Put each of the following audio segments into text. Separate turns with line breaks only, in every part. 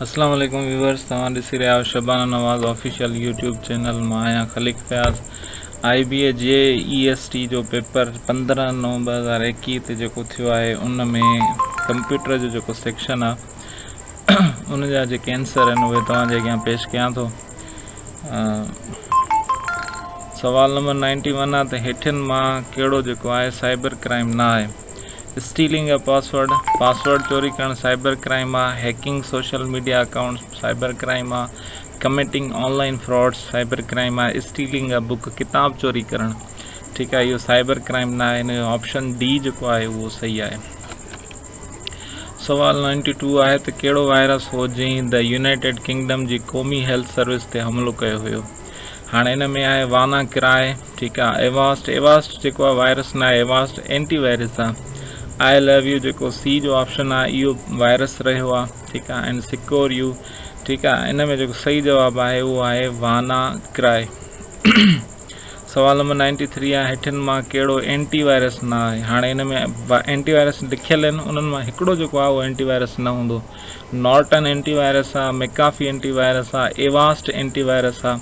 اسلام عليڪم ويورز توهان ڏسي رهيا آهيو Shabana Nawaz official YouTube channel مان آهيان خليق فياض آئي بي اي جي اي ايس ٽي جو پيپر پندرهن نو ٻه هزار ايڪيهه تي جيڪو ٿيو آهي ان ۾ ڪمپيوٽر جو جيڪو سيڪشن آهي ان جا جيڪي آنسر آهن اهي توهان جي اڳيان پيش ڪيان ٿو سوال نمبر نائنٽي ون آهي ته هيٺين مان ڪهڙو جيڪو آهي سائبر ڪرائم نه آهي اسٽيلنگ اي پاسورڊ، پاسورڊ چوري ڪرڻ سائبر ڪرائيم آ، hacking social media accounts cyber crime آ، committing online frauds cyber crime آ، اسٽيلنگ اي بوڪ ڪتاب چوري ڪرڻ ٺيڪ آ اهو سائبر ڪرائيم نه آهي هن جو آپشن ڊي جيڪو آهي اهو صحيح آهي. سوال نائنٽي ٽو آهي ته ڪهڙو وائرس هو جنهن The United Kingdom جي قومي هيلٿ سروس تي حملو ڪيو هيو هاڻي ان ۾ آهي وانا ڪراء، ٺيڪ آ ايواسٽ ايواسٽ جيڪو آ وائرس ناهي ايواسٽ اينٽي وائرس آ آء لو يو جيڪو سي جو آپشن آ اهو وائرس رهيو آ ٺيڪ آ اينڊ سڪور يو ٺيڪ آ ان ۾ جيڪو صحيح جواب آهي اهو آهي وانا ڪرائي سوال نمبر نائنٽي ٿري آ هيٺين مان ڪهڙو اينٽي وائرس نه آهي هاڻي ان ۾ اينٽي وائرس لکيل آهن انهن مان هڪڙو جيڪو آ اهو اينٽي وائرس نه هوندو نارٽن اينٽي وائرس آ ميڪافي اينٽي وائرس آ ايواسٽ اينٽي وائرس آ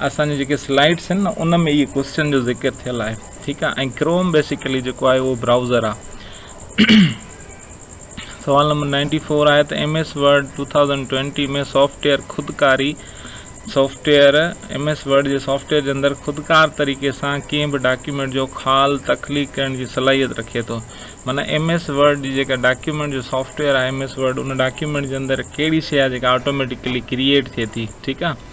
اسان جي جيڪي سلائيڊس آهن نه ان ۾ اهي ڪوسچن جو ذڪر ٿيل آهي ٺيڪ آهي ۽ ڪروم بيسيڪلي جيڪو آهي اهو براؤزر آهي سوال نمبر نائنٽي فور آهي ته M S Word two thousand twenty ۾ software خودڪاري سافٽويئر ايم ايس ورڊ جي سافٽويئر جي اندر خودڪار طريقي سان ڪنهن به ڊاڪيومينٽ جو خال تخليق ڪرڻ جي صلاحيت رکي ٿو مانا ايم ايس ورڊ جي جيڪا ڊاڪيومينٽ جو سافٽويئر آهي ايم ايس ورڊ ان ڊاڪيومينٽ جي اندر ڪهڙي شي آهي جيڪا آٽوميٽيڪلي ڪريئيٽ ٿئي ٿي ٺيڪ آهي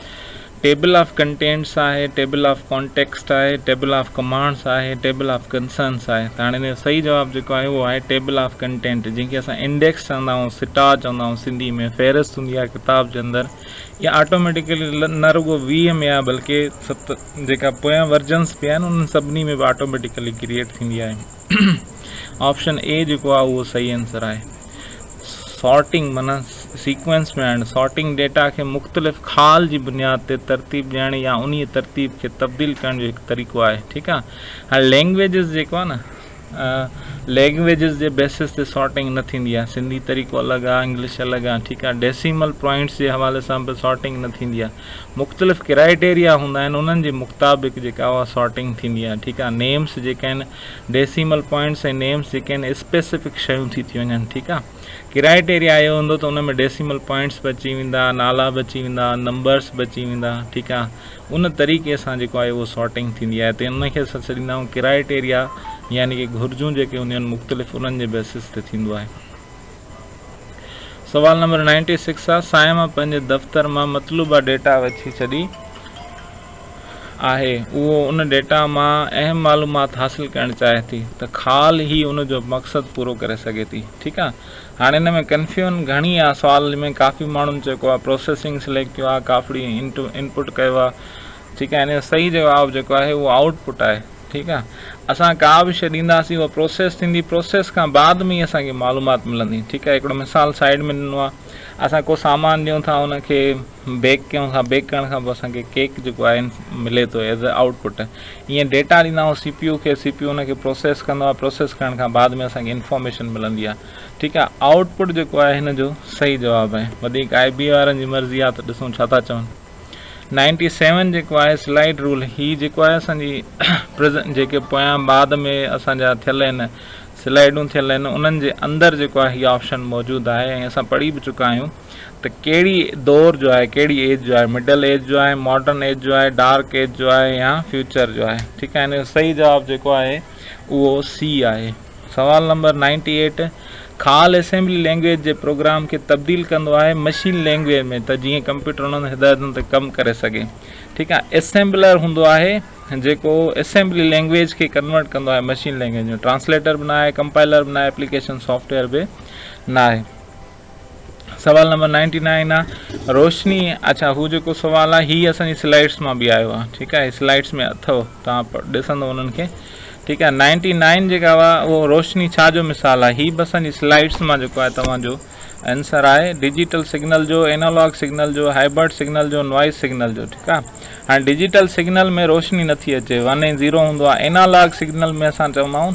ٽيبل آف ڪنٽينٽس آهي، ٽيبل آف ڪانٽيڪسٽ آهي، ٽيبل آف ڪمانڊس آهي، ٽيبل آف ڪنسرنس آهي ته هاڻي ان جو صحيح جواب جيڪو آهي اهو آهي ٽيبل آف ڪنٽينٽ جنهن کي اسان انڊيڪس چوندا آهيون، سٽا چوندا آهيون سنڌي ۾ فهرست هوندي آهي ڪتاب جي اندر اها آٽوميٽيڪلي نه رڳو ويهه ۾ آهي بلڪه ست جيڪا پويان ورجنس به آهن انهن سڀني ۾ به آٽوميٽيڪلي ڪريئيٽ ٿيندي آهي. آپشن اي جيڪو آهي اهو صحيح آنسر آهي سارٽنگ معنيٰ سيڪوينس ۾ آڻڻ سارٽنگ ڊيٽا کي مختلف خال جي بنياد تي ترتيب ڏيڻ يا انهي ترتيب کي تبديل ڪرڻ جو هڪ طريقو آهي ٺيڪ آهي هاڻي لينگويجز جيڪو آهي نه لينگويجز جي بيسس تي سارٽنگ نه ٿيندي آهي سنڌي طريقو الڳ آهي انگلش الڳ آهي ٺيڪ آهي ڊيسيمل پوائنٽس جي حوالي سان به سارٽنگ نه ٿيندي آهي مختلف ڪرائيٽيريا هوندا آهن انهن جي مختابق جيڪا اها سارٽنگ ٿيندي آهي ٺيڪ آهي نيمس جيڪا آهن ڊيسيمل پوائنٽس ۽ نيمس جيڪي آهن اسپيسفڪ شيون ٿي ٿي وڃن ٺيڪ آهي ڪرائيٽيريا اهو هوندو ته ان ۾ ڊيسيمل پوائنٽس به اچي ويندا نالا به اچي ويندا نمبرس به اچي ويندا ٺيڪ آهي ان طريقي سان جيڪو آهي اهو سارٹنگ ٿيندي آهي ته ان کي اسان ڇڏيندا آهيون ڪرائيٽيريا يعني ڪي گهرجون جيڪي هونديون آهن مختلف انهن جي بيسس تي ٿيندو آهي سوال نمبر نائنٽي سڪس آ صائم پنهنجي دفتر مان مطلوبه ڊيٽا وٺي ڇڏي آهي اهو ان ڊيٽا مان اهم معلومات حاصل ڪرڻ چاهي ٿي ته خال هي ان جو مقصد پورو ڪري سگهي ٿي ٺيڪ آ هاڻي ان ۾ ڪنفيون گهڻي آ سوال ۾ ڪافي ماڻهن چيڪو آ پروسيسنگ سليڪٽ ڪيو آ ڪافڙي انٽو انپوٽ ڪيو آ ٺيڪ آ ان جو صحيح جواب جيڪو آهي اهو آئوٽ پوٽ آهي ٺيڪ آ اسان ڪا به شئي ڏينداسين اها پروسيس ٿيندي پروسيس کان بعد ۾ ئي اسان کي معلومات ملندي ٺيڪ آ هڪڙو مثال سائيڊ ۾ ڏنو آ اسان ڪو سامان ڏيون ٿا ان کي بيڪ ڪيون ٿا بيڪ ڪرڻ کان پوء اسان کي ڪيڪ جيڪو آهي ملي ٿو ايز اي آئوٽ پٽ ائين ڊيٽا ڏيندا آهيون سي پي يو کي سي پي يو ان کي پروسيس ڪندو آ پروسيس ڪرڻ کان بعد ۾ اسان کي انفارميشن ملندي آ ٺيڪ آ آئوٽ پٽ جيڪو آهي هن جو صحيح جواب آهي وڌيڪ آئي بي وارن جي مرضي آ ته ڏسون ڇا ٿا چون نائنٽي سيون جيڪو آهي سلائيڊ رول هي جيڪو آهي اسان جي پرزن جيڪي پويان بعد ۾ اسان جا ٿيل آهن سلائيڊون ٿيل آهن انهن جي اندر جيڪو آهي هي آپشن موجود آهي ۽ اسان پڙهي به چڪا آهيون ته ڪهڙي دور جو آهي ڪهڙي ايج جو آهي مڊل ايج جو آهي ماڊرن ايج جو آهي ڊارڪ ايج جو آهي يا فيوچر جو آهي ٺيڪ آهي ان جو صحيح جواب جيڪو آهي اهو سي آهي سوال نمبر نائنٽي ايٽ خال اسيمبلي لينگويج جي پروگرام کي تبديل ڪندو آهي مشين لينگويج ۾ ته جيئن ڪمپيوٽر انهن هدايتن تي ڪم ڪري سگهي ٺيڪ آهي اسيمبلر هوندو آهي جيڪو اسيمبلي لينگويج کي ڪنورٽ ڪندو آهي مشين لينگويج ۾ ٽرانسليٽر به نه آهي ڪمپائلر به نه آهي اپليڪيشن سافٽويئر به نه آهي سوال نمبر نائنٽي نائن آ روشني اچا هو جيڪو سوال آ هي اسان جي سلائيڊس مان به آيو آ ٺيڪ آ هي سلائيڊس ۾ اٿو توهان ڏسندو انهن کي ٺيڪ آ نائنٽي نائن جيڪا هئا اهو روشني ڇا جو مثال آ هي به اسان جي سلائيڊس مان جيڪو آ توهان جو آنسر آهي ڊجيٽل سگنل جو انالاگ سگنل جو هائبرڊ سگنل جو نوائز سگنل جو ٺيڪ آ هاڻي ڊجيٽل سگنل ۾ روشني نٿي اچي ون ۽ زيرو هوندو آ انالاگ سگنل ۾ اسان چونداون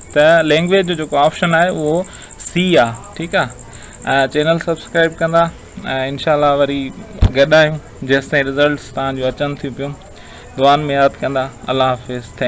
ته لينگويج جو جيڪو آپشن آهي اهو سي آ ٺيڪ آ ۽ چينل سبسڪرائب ڪندا ۽ انشاء الله وري گڏ آهيون جيستائين رزلٽس تهان جون اچن ٿيون پيون دعائن ۾ ياد ڪندا الله حافظ ٿينڪ